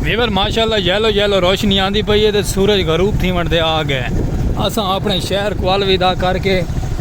Viewer ماشاءاللہ yellow yellow روشنی آندی پئی ہے تے سورج غروب تھی ونڈ دے آ گئے اساں اپنے شہر کوالوی دا کر کے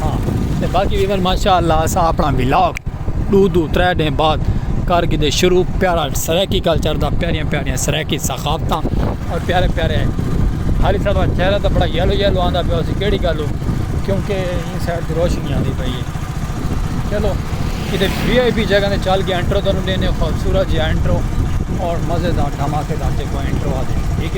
ہاں تے باقی ویور ماشاءاللہ اسا اپنا ولاگ دو دو ترے دن بعد کر گدے شروع پیارا سرائیکی کلچر دا پیاریاں پیاریاں سرائیکی ثقافتاں اور پیارے پیارے حالی صاحب دا چہرہ دا بڑا یلو یلو آندا پیا اسی کیڑی گل ہو کیونکہ این سائڈ دی روشنی آندی پئی ہے چلو کدے وی آئی پی جگہ نے چل کے انٹرو تانوں دینے خوبصورت جی انٹرو اور مزیدار دھماکے دار جے کو انٹرو آ دے ٹھیک ہے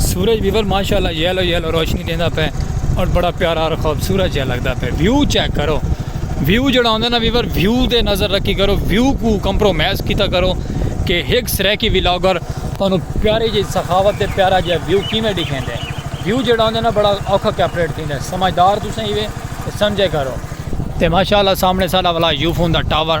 سورج بیور ماشاءاللہ یلو یلو روشنی دیندا پے اور بڑا پیارا اور خوبصورت جہا لگدا پے ویو چیک کرو ویو جڑا ہوندا نا ویور ویو دے نظر رکھی کرو ویو کو کمپرومائز کیتا کرو کہ ہک سریکی ولاگر تانوں پیاری جی سخاوت تے پیارا جہا ویو کیویں ڈکھیندے ویو جڑا ہوندا نا بڑا اوکھا کیپریٹ تھیندا سمجھدار تساں ہیوے سمجھے کرو تے ماشاءاللہ سامنے ساڈا والا یوفون دا ٹاور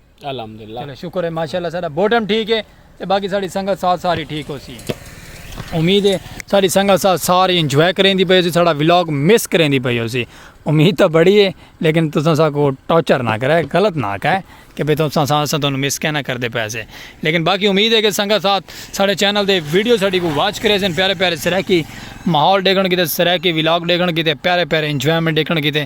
الحمدللہ چلو شکر ہے ماشاءاللہ سارا بوٹم ٹھیک ہے تے باقی ساری سنگت ساتھ ساری ٹھیک ہو سی امید ہے ساری سنگت ساتھ ساری انجوائے کریں دی پئی سی سارا ولاگ مس کریں دی پئی ہو سی امید تو بڑی ہے لیکن تساں سا کو ٹارچر نہ کرے غلط نہ کہے کہ بھئی تساں سا سا تانوں مس کہنا کر دے پیسے لیکن باقی امید ہے کہ سنگت ساتھ سارے چینل دے ویڈیو ساڈی کو واچ کرے سن پیارے پیارے سرائے کی ماحول ڈیکھن کیتے سرائے کی ولاگ ڈیکھن کیتے پیارے پیارے انجوائمنٹ ڈیکھن کیتے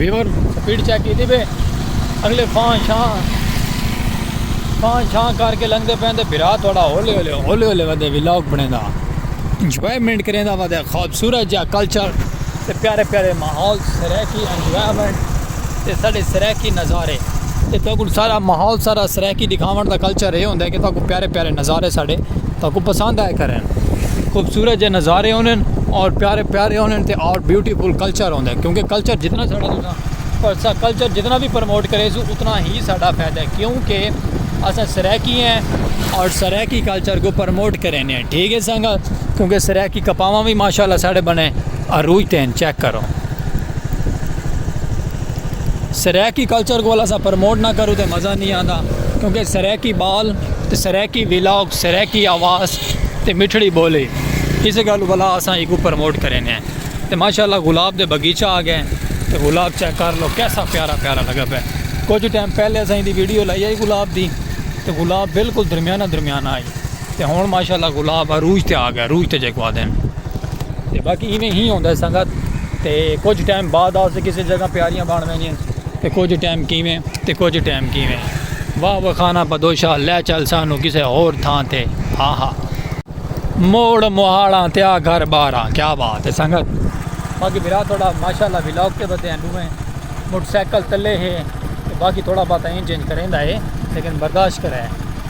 ویور سپیڈ چیک کی پہ اگلے فان شاہ فان شاہ کر کے لنگتے پہ برا تھوڑا ہولے ہولے ہولے ہولے ودے ولاگ بنے دا انجوائمنٹ کریندا ہوا تے خوبصورت جا کلچر تے پیارے پیارے ماحول سرائیکی انجوائمنٹ تے ساڈے سرائیکی نظارے تے تہاکو سارا ماحول سارا سرائیکی دکھاون دا کلچر اے ہوندا کہ تہاکو پیارے پیارے نظارے ساڈے تہاکو پسند آئے کرن خوبصورت جے نظارے ہونن اور پیارے پیارے ہونن تے اور بیوٹیفل کلچر ہوندا ہے کیونکہ کلچر جتنا ساڈا تساں پر سا کلچر جتنا بھی پروموٹ کرے سو اتنا ہی ساڈا فائدہ ہے کیونکہ اساں سرائیکی ہیں اور سرائیکی کلچر کو پروموٹ کرینے ہیں۔ ٹھیک ہے سانگا کیونکہ سرائیکی کپاواں وی ماشاءاللہ ساڑے بنے عروج تے ہن چیک کرو سرائیکی کلچر کو اسا پروموٹ نہ کرو تے مزہ نہیں آندا کیونکہ سرائیکی بال تے سرائیکی ویلاگ سرائیکی آواز تے مٹھڑی بولی اس گل والا اسا ایکو پروموٹ کرینے ہیں تے ماشاءاللہ گلاب دے بگیچہ آ گئے تے گلاب چیک کر لو کیسا پیارا پیارا لگا پہ کچھ ٹائم پہلے اسا دی ویڈیو لائی ہے گلاب دی تے گلاب بالکل درمیانہ درمیانہ آئی تے ہن ماشاءاللہ گلاب عروج تے آ گئے عروج تے جیکو آدھے ہن تے باقی ایویں ہی ہوندا ہے سنگت تے کچھ ٹائم بعد آ سے کسی جگہ پیاریاں بن ویندیاں تے کچھ ٹائم کیویں تے کچھ ٹائم کیویں واہ واہ خانہ بدوشا لے چل سانو کسے ہور تھاں تے ہا ہا موڑ مہاڑاں تے آ گھر باراں کیا بات ہے سنگت باقی بھرا تھوڑا ماشاءاللہ ولاگ تے بدے ہیں دوہیں موٹر سائیکل تلے ہے باقی تھوڑا بہت انج انج کریندا ہے لیکن برداشت کرے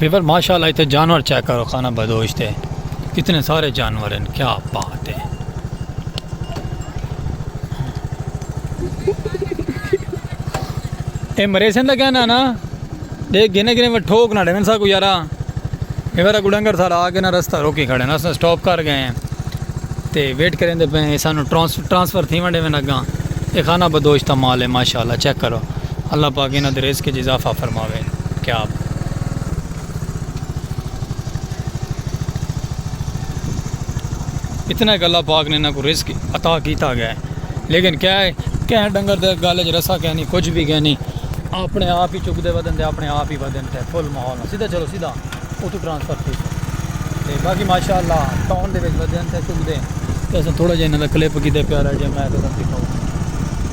ویور ماشاءاللہ اتے جانور چیک کرو خانہ بدوش تے کتنے سارے جانور ہیں کیا بات ہے اے مریسن دا کہنا نا دے گنے گنے وہ ٹھوک نہ ڈیون سا کو یارا ویور کو ڈنگر سارا آگے نہ رستہ روکی کھڑے نا اسنا سٹاپ کر گئے ہیں تے ویٹ کریں دے پہ ہیں سانو ٹرانسفر تھی ونڈے میں نگاں اے خانہ بدوش تا مال ہے ماشاءاللہ چیک کرو اللہ پاک انہ دے رزق جزافہ فرماوے کیا بات اتنے گلہ پاک نے انہاں کو رزق عطا کیتا گیا ہے لیکن کیا ہے کہیں ڈنگر دے گالے جو رسا کہنی کچھ بھی کہنی اپنے آپ ہی چک دے ودن دے اپنے آپ ہی ودن دے فل ماحول سیدھا چلو سیدھا او تو ٹرانسفر تھی سو تے باقی ماشاءاللہ ٹاؤن دے وچ ودن تے چک دے تے اساں تھوڑا جہاں انہاں دا کلپ کیتے پیارا جے میں تے تم دکھاؤں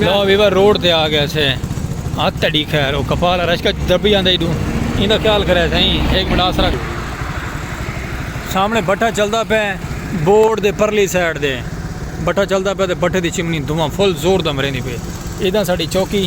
لو ویور روڈ تے آ گئے سے آ تڑی خیر او کپال رش کا دربی آندا ایڈو ایندا خیال کرے سائیں ایک منٹ آسرا سامنے بٹھا چلدا پے بورڈ دے پرلی سائیڈ دے بٹھا چلدا پے تے بٹھے دی چمنی دھواں فل زور دا مریندی پے ایداں ساڈی چوکی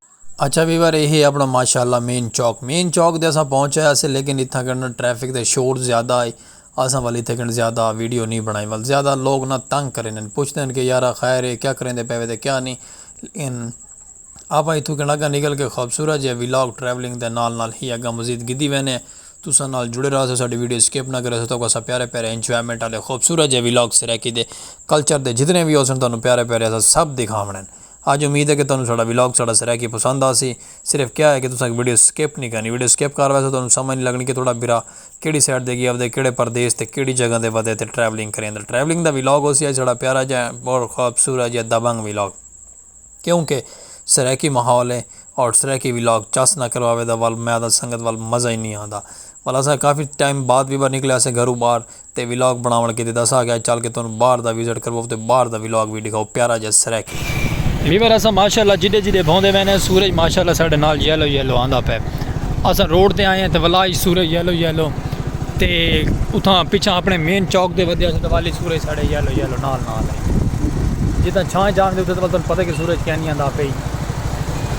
اچھا ویور اے ہے اپنا ماشاءاللہ مین چوک مین چوک دے اساں پہنچ آیا سے لیکن اتھاں کن ٹریفک دے شور زیادہ آئے اساں ول اتھے کن زیادہ ویڈیو نہیں بنائی ول زیادہ لوگ نہ تنگ کریں نیں پوچھتے ہیں کہ یارا خیر ہے کیا کریں دے پہوے دے کیا نہیں ان آپاں اتھو کن اگہ نکل کے خوبصورت جے ویلاگ ٹریولنگ دے نال نال ہی اگہ مزید گدی وینے تساں نال جڑے رہا سو ساڑی ویڈیو سکپ نہ کرے سو تو اساں پیارے پیارے انجوائمنٹ آلے خوبصورت جے ویلاگ سرائیکی دے کلچر دے جتنے بھی ہو سن تانوں پیارے پیارے اساں سب دکھاونے ہیں. ہاں جی امید ہے کہ تہانوں ساڈا ولاگ ساڈا سرائیکی پسند آسی صرف کیا ہے کہ تساں اک ویڈیو سکپ نی کرنی ویڈیو سکپ کر ویسو تہانوں سمجھ نی لگنی کہ تہاڈا بھرا کیڑی سائیڈ تے گیا ودے کیڑے پردیس تے کیڑی جگہ تے ودے تے ٹریولنگ کریندا ٹریولنگ دا ولاگ ہوسی اج ساڈا پیارا جیہا بہت خوبصورت جیہا دبنگ ولاگ کیوں کہ سرائیکی ماحول ہے اور سرائیکی ولاگ چس نہ کرواوے تاں ول میں تاں سنگت ول مزہ ہی نی آندا ول اساں کافی ٹائم بعد وی بار نکلے اسے گھروں باہر تے ولاگ بنڑاونڑ کیتے دسا گیا چل کے تہانوں باہر دا وزٹ کرواؤ تے باہر دا ولاگ وی ڈکھاؤ پیارا جیا سریکی۔ ویور اساں ماشاءاللہ جڈے جڈے بھوندے ویندے ہیں سورج ماشاءاللہ ساڈے نال یلو یلو آندا پئے اساں روڈ تے آئے ہیں تے ولا اچ سورج یلو یلو تے اتھاں پچھاں اپنے مین چوک تے ودھیا اساں تے والی سورج ساڈے یلو یلو نال نال ہے جتھاں چھاں جان دے اتھاں تے تہانوں پتہ کہ سورج کینی آندا پئی۔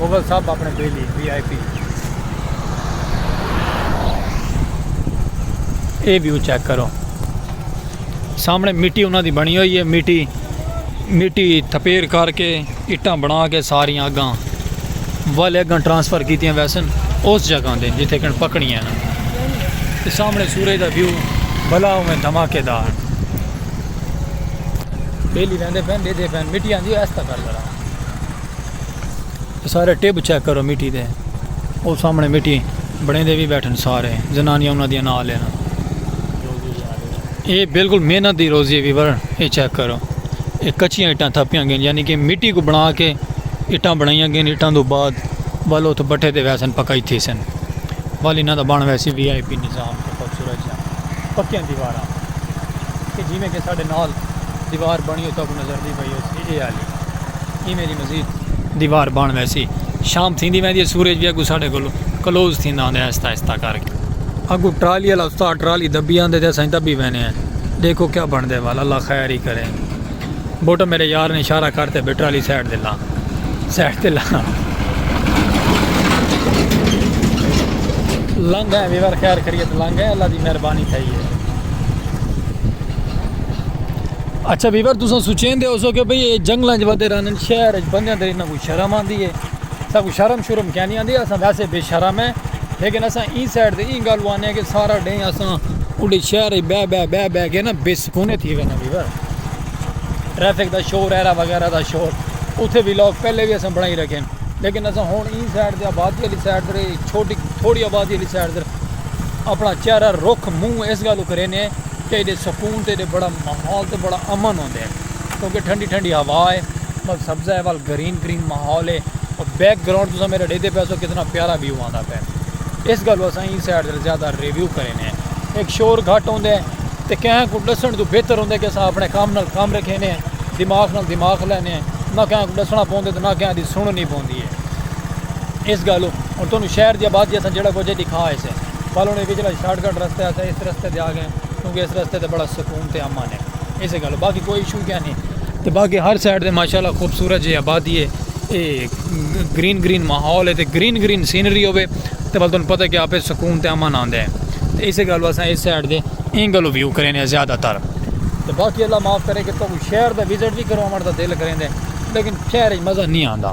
اوول سب اپنے بیلی وی آئی پی۔ اے ویو چیک کرو سامنے مٹی انہاں دی بنی ہوئی ہے مٹی مٹی تھپیر کر کے اٹاں بنا کے ساریاں اگاں والے اگاں ٹرانسفر کیتیاں ویسن اس جگہ دے جتھے کن پکنی ہے نا تے سامنے سورج دا ویو بلا ہوئے دھماکے دار بیلی ویندے پین دے دے پین مٹی آندی ہے اس تک کر لڑا سارے ٹیب چیک کرو مٹی دے او سامنے مٹی بڑے دے بھی بیٹھن سارے زنانیاں انہاں دیاں نال ہیں اے بالکل محنت دی روزی ہے ویور اے چیک کرو اے کچیاں اٹاں تھپیاں گئن یعنی کہ مٹی کو بنا کے اٹاں بنائیاں گئن اٹاں دو بعد ول اوتھ بٹھے دے ویسن پکائی تھی سن ول انہاں دا بن ویسی وی آئی پی نظام تے خوبصورت جا پکیاں دیواراں کہ جی میں کہ ساڈے نال دیوار بنی ہوتا کو نظر دی دیوار بن ویسی۔ شام تھیندی ویندی ہے سورج وی اگوں ساڈے کولوں کلوز تھیندا ہوندا ہے آہستہ آہستہ کر کے۔ اگوں ٹرالی والا استاد ٹرالی دبی آندے تے اساں دبی وینے ہیں ڈیکھو کیا بنڑدے ول اللہ خیر ہی کرے۔ بوٹا میڈے یار نے اشارہ کرتے بھئی ٹرالی سائیڈ تے لا سائیڈ تے لا۔ لنگھ ہیں ویور خیر خیریت لنگھ ہیں اللہ دی مہربانی تھئی ہے۔ اچھا ویور تساں سوچیندے ہو سو کہ بھئی اے جنگلاں جو ودے رہن شہر اچ بندیاں دے انہاں کو شرم آندی ہے اساں کو شرم شرم کیا نہیں آندی اساں ویسے بے شرم ہیں لیکن اساں ایں سائڈ تے ایں گالو آنے ہیں کہ سارا ڈیں اساں اڈے شہر اچ بے بے بے بے کے نا بے سکونے تھی وینا ویور ٹریفک دا شور ایرا وغیرہ دا شور اتھے بھی لوگ پہلے بھی اساں بڑھائی رکھیں لیکن اساں ہون ایں سائڈ تے آبادی علی سائڈ تے چھوٹی تھوڑی آبادی علی سائڈ تے اپنا چہرہ رخ منہ اس گالو کرینے ہیں تے ایڈے سکون تے ایڈے بڑا ماحول تے بڑا امن ہوندے کیونکہ ٹھنڈی ٹھنڈی ہوا ہے ول سبزہ ہے ول گرین گرین ماحول ہے اور بیک گراؤنڈ تساں میرا ڈیدے پے سو کتنا پیارا ویو آندا پے اس گل اساں این سائڈ تے زیادہ ریویو کرینے ایک شور گھٹ ہوندے تے کہیں کو ڈسن تو بہتر ہوندے کہ اساں اپنے کام نال کام رکھینے دماغ نال دماغ لینے نہ کہیں کو ڈسنا پوندے تے نہ کہیں دی سننی پوندی ہے اس گل اور تانوں شہر دی آبادی اساں جڑا کچھ دکھا ہے سے ٻالوݨ دے وچلا شارٹ کٹ رستہ ہے اساں اس رستے تے آ گئے کیونکہ اس رستے تے بڑا سکون تے امن ہے ایسے گالو باقی کوئی ایشو کیا نہیں تے باقی ہر سائیڈ تے ماشاءاللہ خوبصورت جی آبادی ہے اے گرین گرین ماحول ہے تے گرین گرین سینری ہوے تے بل تن پتہ کہ آپے سکون تے امن آندے ہیں تے ایسے گالو اساں اس سائیڈ دے این گالو ویو کریں ہیں زیادہ تر تے باقی اللہ معاف کرے کہ تو شہر دا وزٹ بھی کرو امر دا دل کریں دے لیکن شہر ہی مزہ نہیں آندا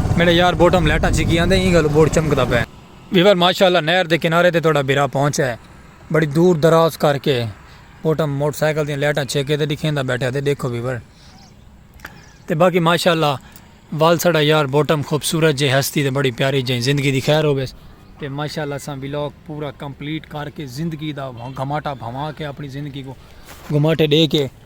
میڈے یار بوٹم لائٹاں چھکی آندے ایں گالوں بورڈ چمکدا پئے۔ ویور ماشاءاللہ نہر دے کنارے تے تہاڈا بھرا پہنچ ہے بڑی دور دراز کر کے بوٹم موٹر سائیکل دیاں لائٹاں چھیکے تے ڈکھیندا بیٹھا تے ڈیکھو ویور تے باقی ماشاءاللہ ول ساڈا یار بوٹم خوبصورت جے ہستی تے بڑی پیاری جے زندگی دی خیر ہوویس تے ماشاءاللہ اساں ولاگ پورا کمپلیٹ کر کے زندگی دا گھماٹا بھواں کے اپنی زندگی کو گھماٹے ڈے کے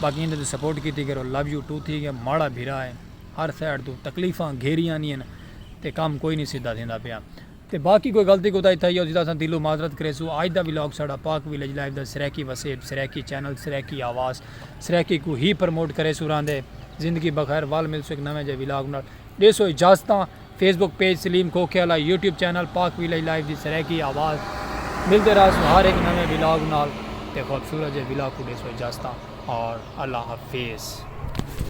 باقی ایندے تے سپورٹ کیتی کرو لو یو ٹو تھی گیا ماڑا بھرا ہے ہر سائیڈ توں تکلیفاں گھیری آنیاں تے کم کوئی نہیں سیدھا تھیندا پیا تے باقی کوئی غلطی کوتاہی تھئی ہوسی تاں اساں دلوں معذرت کریسوں اج دا ولاگ ساڈا پاک ولیج لائف دا سرائیکی وسیب سرائیکی چینل سرائیکی آواز سرائیکی کوں ہی پرموٹ کریسوں راہندے زندگی بخیر ول ملسوں ہک نویں جئے ولاگ نال ݙیسو اجازتاں فیس بک پیج سلیم کھوکھے آلا YouTube channel Pak village live دی سرائیکی آواز ملدے راہسوں ہر ہک نویں ولاگ نال تے خوبصورت جے ولاگ کوں ݙیسو اجازتاں اور اللہ حفیظ۔